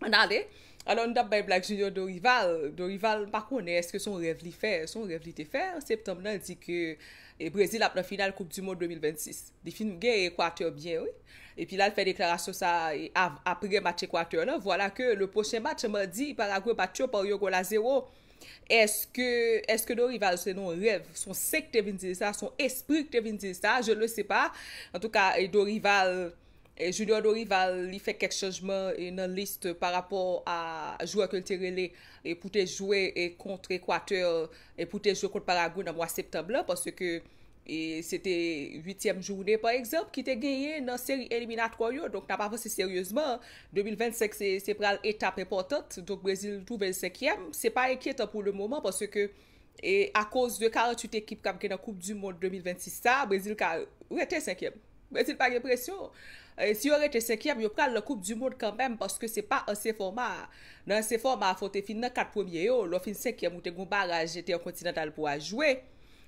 An ale, alò nou tap bay blag sou yon Dorival, Dorival m pa konnen eske son rèv li fè, son rèv li te fè an septanm nan di ke e Brezil ap nan final koup di mond 2026. Li fin gen Equateur byen wi. Epi la l fè deklarasyon sa a e av apre match Equateur lan, vwala ke le pwochen match se madi, Paraguay bat yo pa yon gòl a zewo. Eske, eske Dorival se non rèv, son sen k te vin di l sa, son espri k te vin di l sa, je ne sais pas. Antouka e Dorival Junior Dorival li fè kèk chanjman nan lis pa rapò a jwè ke l te rele pou te jwe kont Ekwatè e pou te jwe kont Paragwe nan mwa septanm lan paske se te uityèm joune pa egzanp ki te genyen nan seri eliminatwò yo donk n ap avanse seryezman 2025 se pral etap enpòtant donk Brezil twouve l senkyèm se pa enkyetan pou lemoman paske E akoz de 48 ekip k ap gen nan koup du mond 2026 sa, Brezil ka rete senkyèm. Brezil pa gen presyon. Si yo rete senkyèm, yo pral nan koup du mond kanmenm paske se pa ansyen fòma a. Nan ansyen fòma a fò w te fin nan 4 premye yo, lè w fin senkyèm ou te gen yon baraj entèkontinantal pou w al jwe.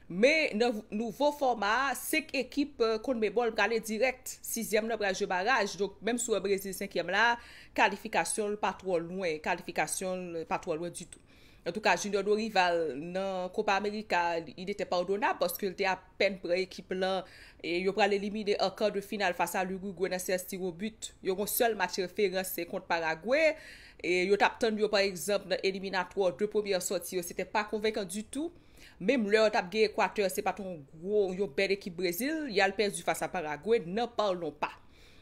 Men nan nouvo fòma a, 5 ekip Conmebol prale dirèk, sizyèm nan pral jwe baraj. Donk menm si w wè Brezil senkyèm la, kalifikasyon l pa twò lwen, kalifikasyon l pa twò lwen ditou. Antouka Junior Dorival nan Copa America il était pardonnable paske l te apèn pran ekip lan e yo pral elimine an quart de finale face à l'Uruguay nan séance tir au but. Yo gon sèl match referans se kont Paraguay e yo tap tann yo pa egzanp nan eliminatwa 2 premyè sòti yo se te pa konvenkan du tout. Menm lè yo tap gen Equateur se pat yon gwo yon bèl ekip Brésil y al pèdi face à Paraguay n'en parlons pas.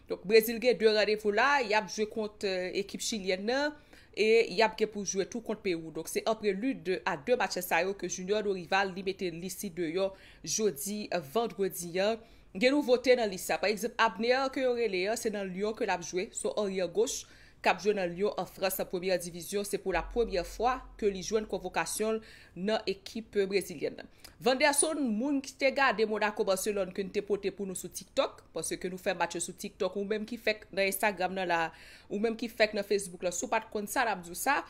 Donk Brésil gen 2 randevou la yap jwe kont ekip chilyèn nan e yap gen pou jwe tou kont Perou donk se an prelid de a 2 matchè sa yo ke Junior Dorival li mete lis li deyò jodi vandredi an, gen nouvote nan lis sa pa egzanp Abner ke yo rele an se nan Lyon ke lap jwe son aryè goch kap jwe nan Lyon an Frans an premyè divizyon se pou la premyè fwa ke li jwenn konvokasyon l nan ekip brezilyèn nan. Vanderson moun ki te gade Monaco Barcelone ke n te pote pou nou sou tiktok paske nou fè match yo sou tiktok ou menm ki fèk nan Instagram nan la Ou menm ki fèk nan Facebook lan si w pat konn sa nap di w sa,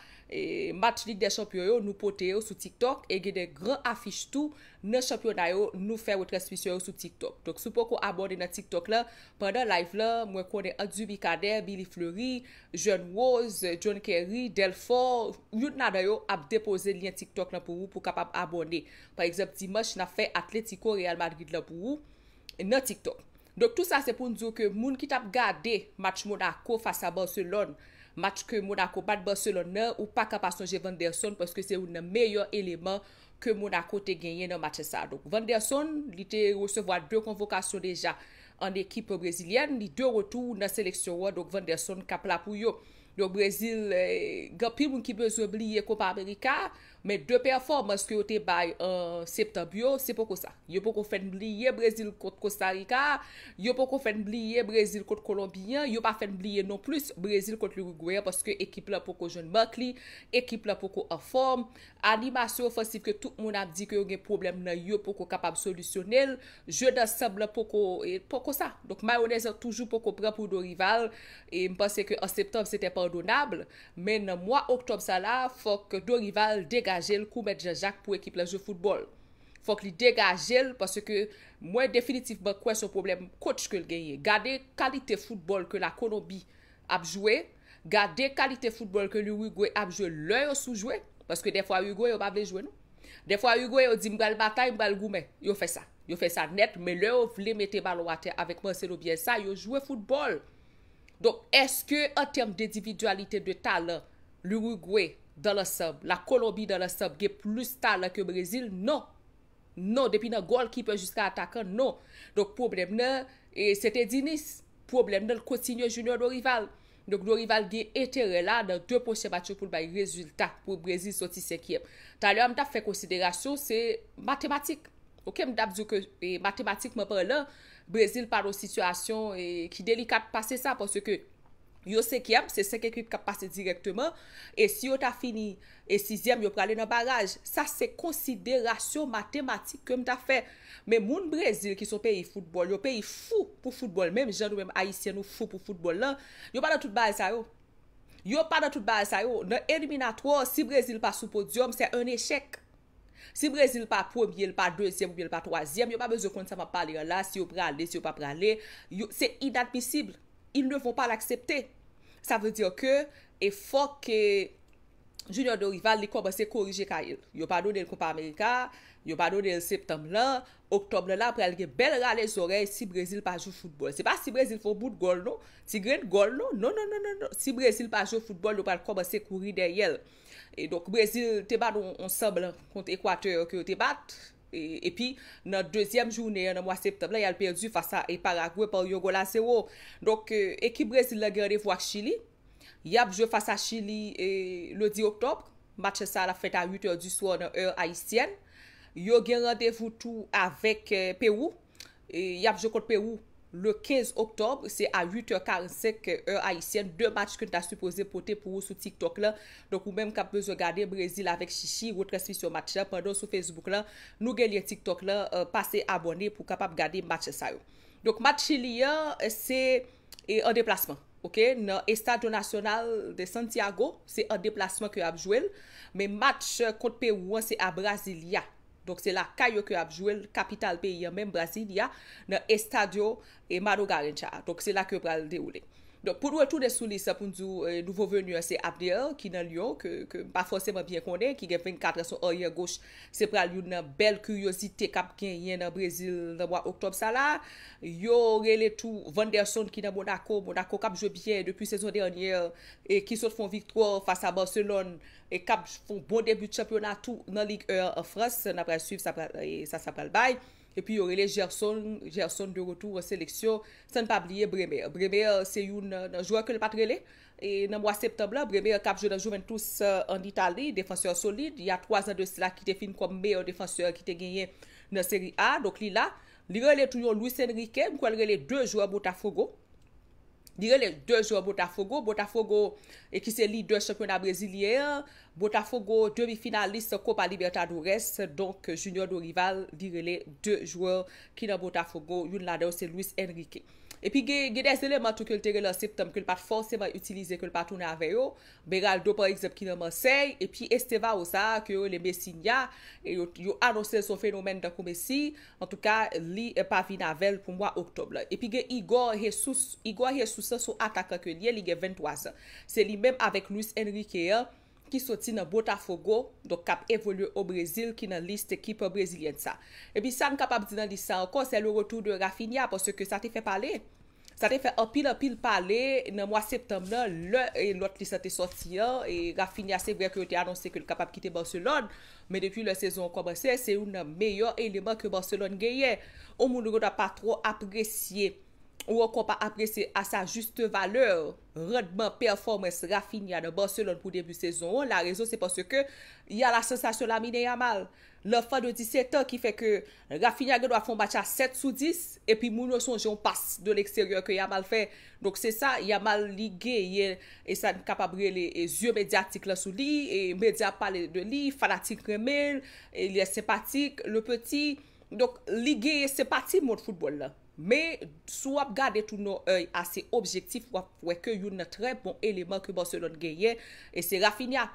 match lig dè chanpyon yo nou pote yo sou tiktok e gen de gran afich tou nan chanpyona yo nou fè retransmisyon yo sou tiktok. Donk si w poko abòne nan tiktok lan pandan live lan mwen konnen ant Duby Cadet, Billy Fleury, Jeune Rose, John Kerry, Delfort youn ladan yo ap depoze lyen tiktok lan pou ou pou kapab abòne. Pa egzanp dimanch nap fè Atletico Real Madrid lan pou ou nan tiktok. Donk tou sa se pou n di w ke moun ki t ap gade match Monaco fas a Barcelone, match ke Monaco bat Barcelone nan, ou pa ka pa sonje Van der Son paske se youn nan meyè eleman ke Monaco te genyen nan match sa. Donk Van der Son, li te resevwa 2 konvokasyon deja an ekip brezilyèn, li de retou nan seleksyon an, donk Van der Son k ap la pou yo. Donk Brezil, gen anpil moun ki bezwen bliye Copa America, Men 2 pèfòmans ke yo te bay an septanb yo, se poko sa. Yo poko fè n bliye Brezil kont Kostarika a, yo poko fè n bliye Brezil kont Kolonbi an, yo pa fè n bliye non plis Brezil kont Lirigwe an paske ekip la poko jwenn mak li, ekip la poko anfòm, animasyon ofansif ke tout moun ap di ke yo gen pwoblèm nan yo poko kapab solisyone l, jeu d'ensemble lan poko poko sa. Donk mayonèz lan toujou poko pran pou Dorival e m panse ke an septanb sete pardonnable Men nan mwa oktòb sa la, fòk Dorival degaje l kou mèt Janjak pou ekip lan jwe foutbòl. Fòk li degaje l paske mwen definitivman kwè son pwoblèm kotch ke l genyen. Gade kalite foutbòl ke Lakolonbi ap jwe, gade kalite foutbòl ke Lurigwe ap jwe lè yo sou jwe, paske dèfwa Urigwe yo pa vle jwe non. Dèfwa Urigwe yo di m pral batay, m pral goumen. Yo fè sa. Yo fè sa nèt, men lè yo vle mete balon atè avèk Marcelo Bielsa, yo jwe foutbòl. Donk eske an tèm dendividyalite de talan L'Uruguay dan lansanb, la Kolonbi dan lansanb gen plis talan ke Brezil? Non! Non! Depi nan gòlkipè jiska atakan, non! Donk pwoblèm nan e se te Diniz. Pwoblèm nan kontinye jounen Dorival. Donk Dorival gen enterè la nan 2 pwochen match yo pou l bay rezilta pou Brezil soti senkyèm. Talè a m t ap fè konsiderasyon se matematik. Ok m t ap di w ke matematikman palan Brezil pa nan sitiyasyon ki delikat pase sa paske yo senkyèm, se 5 ekip k ap pase dirèkteman e si yo ta fini sizyèm yo prale nan baraj. Sa se konsiderasyon matematik ke m ta fè. Men moun Brezil ki se yon peyi foutbòl, yon peyi fou pou foutbòl menm jan nou menm Ayisyen nou fou pou foutbòl lan, yo pa nan tout bagay sa yo. Yo pa nan tout bagay sa yo. Nan eliminatwa, si Brezil pa sou podyòm, se 1 echèk. Si Brezil pa premye, li pa dezyèm oubyen li pa twazyèm, yo pa bezwen konn sa m ap pale an la, si yo prale, si yo pa prale. Yo, se inadmisib. Ils ne vont pas l'accepter. Sa vle dire ke e fòk ke Junior Dorival li kòmanse korije kaye l. Yo pa done l Kopa Amerika a, yo pa done l septanm lan, oktòb lan la pral gen bèl rale zòrèy si Brezil pa jwe foutbòl. Se pa si Brezil fè yon bout gòl non, ti grenn gòl non, non non non non non. Si Brezil pa jwe foutbòl yo pral kòmanse kouri dèyè l. E donk Brezil te bat yon sanblan kont Ekwatè ke yo te bat. Epi nan dezyèm jounen an nan mwa septanm lan y al pèdi fas a Paragwe pa yon gòl a zewo. Donk ekip Brezil lan gen randevou ak Chili. Y ap jwe fas a Chili le 10 oktòb. Match sa a l ap fèt a 8 è di swa nan è ayisyèn. Yo gen randevou tou avèk Pewou. Yap jwe kont Pewou le 15 Oktòb, se a 8 è 45 è ayisyèn, 2 match ke n ta sipoze pote pou ou sou TikTok la. Donk ou menm kap bezwen gade Brezil avèk Chichi, retransmisyon match la pandan w sou Facebook la, nou gen lyen TikTok la, pase abòne pou w kapab gade match sa yo. Donk match Chili an se an deplasman ok, nan Estadio Nacional de Santiago, se an deplasman ke yap jwe l, men match kont Pewou an se a Brasilia. Donk se lakay yo ke ap jwe l, kapital peyi an menm Brasilia, nan Estadio Mano Garincha a. Donk se la ke yo pral dewoule. Donk pou n retounen sou lis la pou n di w nouvo venu an se Abner ki nan Lyon ke ke m pa fòseman byen konnen ki gen 24 an se yon aryè goch se pral youn nan bèl kiryozite k ap genyen nan Brezil nan mwa oktòb sa la. Yo rele tou Vanderson ki nan Monako, Monako k ap jwe byen depi sezon dènyè e ki sot fè yon viktwa fas a Barcelone. e kap fon bon debi chanpyona tou nan Ligue 1 an Frans, na pral swiv sa pral sa sa pral bay, epi yo rele Gerson Gerson de retour an seleksyon, san pa bliye Bremer, Bremer se youn nan jwè ke l pat rele nan mwa septanb lan, Bremer kap jwe nan Juventus an Itali, defansè solid, ya 3 zan de sila ki te fin kòm meyè defansè ki te genyen nan Serie A, donk li la, li rele tou yon Luis Enrique, m kwè l rele 2 jwè Botafogo. Li rele de zò Botafogo, Botafogo e ki se lidè chanpyona brezilyen an, Botafogo demi finalis Copa Libertadores, donk Junior Dorival li rele de jwè ki nan Botafogo, youn ladan yo se Luis Enrique. Epi gen gen des eleman tou ke l te rele an septanm ke l pa t fòseman itilize ke l pa tounen avè yo, Beraldo pa egzanp ki nan Marsèy epi Estevao sa a ke yo rele Messinha yo anonse l se yon fenomèn tankou Messi antouka li pa vin avè l pou mwa oktòb la. Epi gen Igor Jesus, Igor Jesus an se yon atakan ke l ye, li gen 23 zan. Se li menm avèk Luis Enrique an ki soti nan Botafogo donk k ap evolye o Brezil ki nan lis ekip brezilyèn sa. Epi sa n kapab di nan lis sa ankò sè le retou de Raphinha paske sa te fè pale. Sa te fè anpil anpil pale nan mwa septanm nan lè lòt lis la te sòti an. Raphinha se vrè ke yo te anonse ke l kapab kite Barcelone, men depi lè sezon an kòmanse se youn nan meyè eleman ke Barcelone genyen. Yon moun ou gentan pa twò apresye ou ankò pa apresye a sa juste valeur randman, pèfòmans Raphinha nan Barcelone pou debi sezon an. La rezon se paske y a la sensasyon Lamine Yamal. L'enfant de 17 ans ki fè ke Raphinha gen dwa fè yon match a 7 sou 10 epi moun yo sonje yon pas de l'extérieur ke Yamal fè donk se sa Yamal li genyen e sa n kapab rele zye medyatik lan sou li e medya ap pale de li fanatik renmen l il est sympathique le petit donk li genyen senpati mond foutbòl lan. Men, si w ap gade tou nan òy ase objektif, w ap wè ke youn nan trè bon eleman ke Barcelone genyen, e se Raphinha.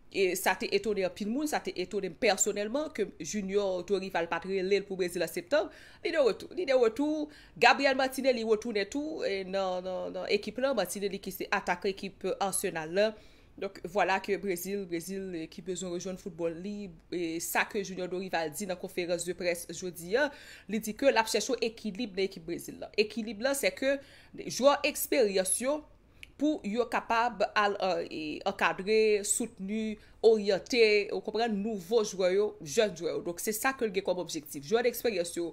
E sa te etone anpil moun, sa te etone m pèsonèlman ke Junior Dorival pa t rele l pou Brezil an Septanm. Li de retou. Li de retou. Gabriel Martinelli retounen tou nan ekip lan. Martinelli ki se atakan ekip Arsenal lan. Donk vwala ke Brezil, Brezil ki bezwen rejwenn foutbòl li, e sa ke Junior Dorival di nan konferans de près jodi a, li di ke lap chèche ekilib nan ekip Brezil la. Ekilib la se ke jwè eksperyans yo pou yo kapab al ankadre, soutni, oryante, ou konprann, nouvo jwè yo, jèn jwè yo. Donk se sa ke l gen kòm objektif. Jwè deksperyans yo,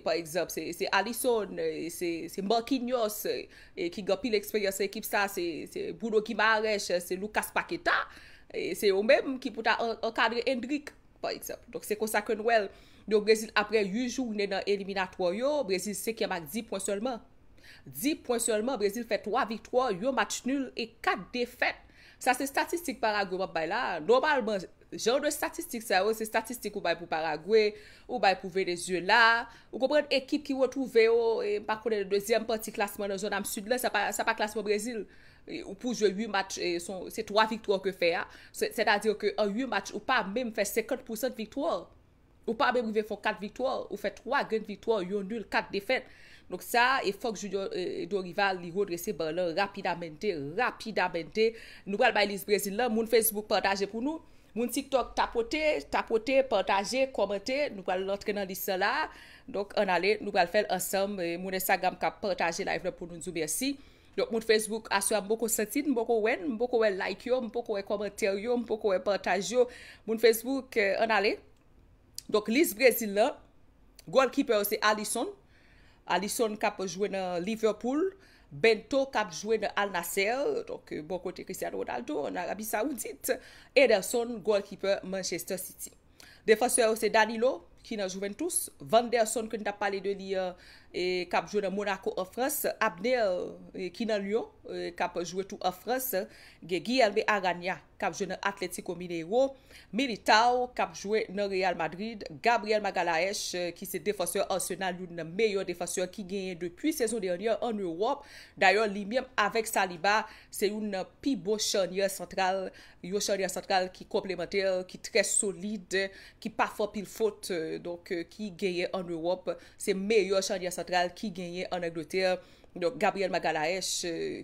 pa egzanp, se Alisson, se Marquinhos, ki gen anpil eksperyans nan ekip sa, se Bruno Guimaraes, se Lucas Paqueta, se yo menm ki pou ta ankadre Endrick, pa egzanp. Donk se konsa ke nou wè l, yo Brezil aprè 8 joune nan eliminatwa yo, Brezil 5 yèm ak 10 pwen sèlman. 10 pwen sèlman, Brezil fè 3 viktwa, yon match nul e 4 defèt. Sa se statistik Paraguay m ap bay la a, nòmalman Jan de statistik sa yo se statistik ou bay pou Paraguay, ou bay pou Venezuela, ou konprann ekip ki retwouve yo, m pa konnen dezyèm pati klasman nan zòn am sid la, sa pa klasman Brezil. Ou pou jwe 8 match, se 3 viktwa ou ke fè a, sètadi ke an 8 match ou pa menm fè 50 pousan de viktwa ou. Ou pa menm rive fon 4 viktwa, ou fè 3 grenn viktwa, yon nul, 4 defèt. Donk sa, e fòk Junior Dorival li redrese ban lan rapidamente, rapidamente. Nou pral bay lis Brezil lan, moun Facebook pataje pou nou, moun TikTok tapote, tapote, pataje, kòmante, nou pral rantre nan lis lan la. Donk an ale, nou pral fèl ansanm, moun Instagram ka pataje live lan pou nou, nou di w mèsi. Donk moun Facebook aswè a m poko santi n, m poko wè n, m poko wè like yo, m poko wè kòmantè yo, m poko wè pataj yo. Moun Facebook ann ale. Donk lis Brezil lan, goalkeeper yo se Alisson, Alisson k ap jwe nan Liverpool, Bento k ap jwe nan Al-Nassr, donk bò kote Cristiano Ronaldo, ann Arabi Sawoudit, Ederson, goalkeeper Manchester City. Defansè yo se Danilo ki nan Juventus, Vanderson ke n tap pale de li an kap jwe nan Monaco an Frans, Abner ki nan Lyon kap jwe tou an Frans, gen Guilherme Arana kap jwe nan Atlético Mineiro, Militao kap jwe nan Real Madrid, Gabriel Magalhaes ki se defansè Arsenal youn nan meyè defansè ki genyen depi sezon dènyè an Ewòp, dayè li menm avèk Saliba se youn nan pi bon chanyè santral yon charya santral ki konplemantè, ki trè solid, ki pa fò pil fot, donk ki genyen an Ewòp, se meyè charya santral ki genyen an Angletè, donk Gabriel Magalhaes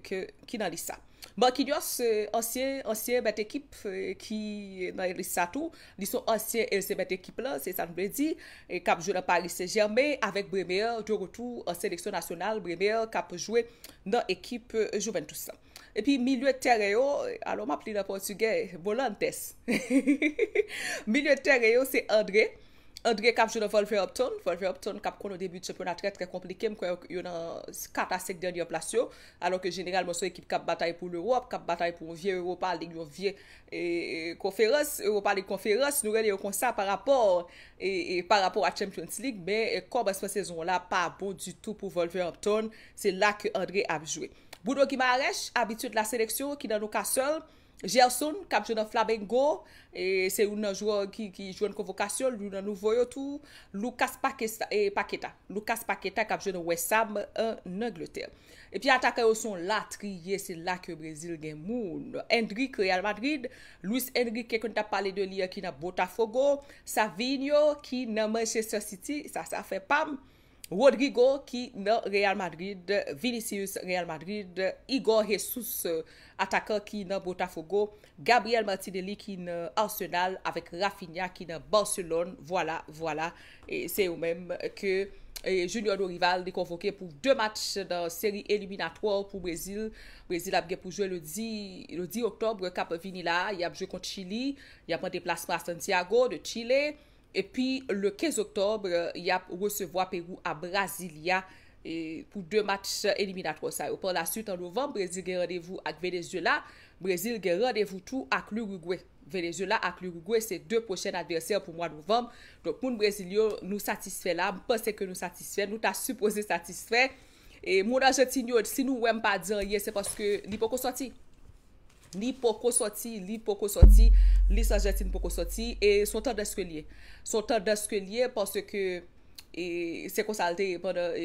ki nan lis sa. Marquinhos, ansyen, ansyen mèt ekip ki nan lis sa tou, li son ansyen e l se mèt ekip la, se sa n vle di, k ap jwe nan Paris Saint Germain avèk Bremer de retou an seleksyon nasyonal, Bremer k ap jwe nan ekip Juventus la. Epi milye tèren yo, alò map li nan pòtigè, Volantes. Milye tèren yo se André, André kap jwe nan Wolverhampton, Wolverhampton kap konnen debi chanpyona trè trè konplike, m kwè yo nan 4 a 5 dènyè plas yo, alò ke jeneralman se yon ekip kap batay pou Lewòp, kap batay pou yon vye Europa League, yon vye konferans, Europa League konferans, nou rele yo konsa pa rapò pa rapò a Champions League, men kòmansman sezon an la pa bon ditou pou Wolverhampton, se la ke André ap jwe. Bruno Guimaraes, abitye de la seleksyon ki nan Newcastle, Gerson k ap jwe nan Flamengo, se youn nan jwè ki jwenn konvokasyon, youn nan nouvo yo tou, Lucas Paqueta, Lucas Paqueta k ap jwe nan West Ham ann Angletè. Epi atakan yo se yon latriye, se la ke Brezil gen moun. Endrick, Real Madrid, Luis Enrique ke n t ap pale de li an ki nan Botafogo, Savinho ki nan Manchester City, sa se afè pa m. Rodrygo ki nan Real Madrid, Vinicius Real Madrid, Igor Jesus atakan ki nan Botafogo, Gabriel Martinelli ki nan Arsenal avèk Raphinha ki nan Barcelone vwala vwala se yo menm ke Junior Dorival li konvoke pou 2 match nan seri eliminatwò pou Brezil, Brezil ap gen pou jwe le 10 Octobre kap vini la a, yap jwe kont Chili, yap an deplasman a Santiago de Chile. Epi le 15 oktòbre yap resevwa Perou a Brasilia pou 2 match eliminatwò sa yo. Par la swit an novanb Brezil gen randevou ak Venezuela. Brezil gen randevou tou ak Lurigwe. Venezuela ak Lurigwe se 2 pwochen advèsè pou mwa novanb. Donk moun Brezil yo nou satisfè la, m panse ke nou satisfè, nou ta sipoze satisfè. Moun Argentine yo si nou wèm pa di anyen se paske li poko sòti. Li poko sòti, li poko sòti, lis Argentine poko sòti e s on tandans ke l ye. S on tandans ke l ye paske se konsa l te ye pandan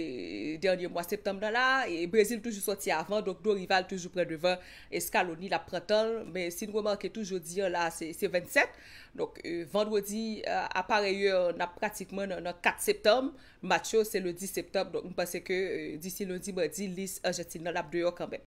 dènye mwa septanm nan la. Brezil toujou sòti avan donk Dorival toujou pran devan Scaloni l ap pran tan l. Men si n remake tou jodi an la se 27 donk vandredi a parèy è n ap pratikman nan 4 septanm. Match yo se le 10 septanm donk m panse ke disi lendi madi lis Argentine nan ap deyò kanmenm.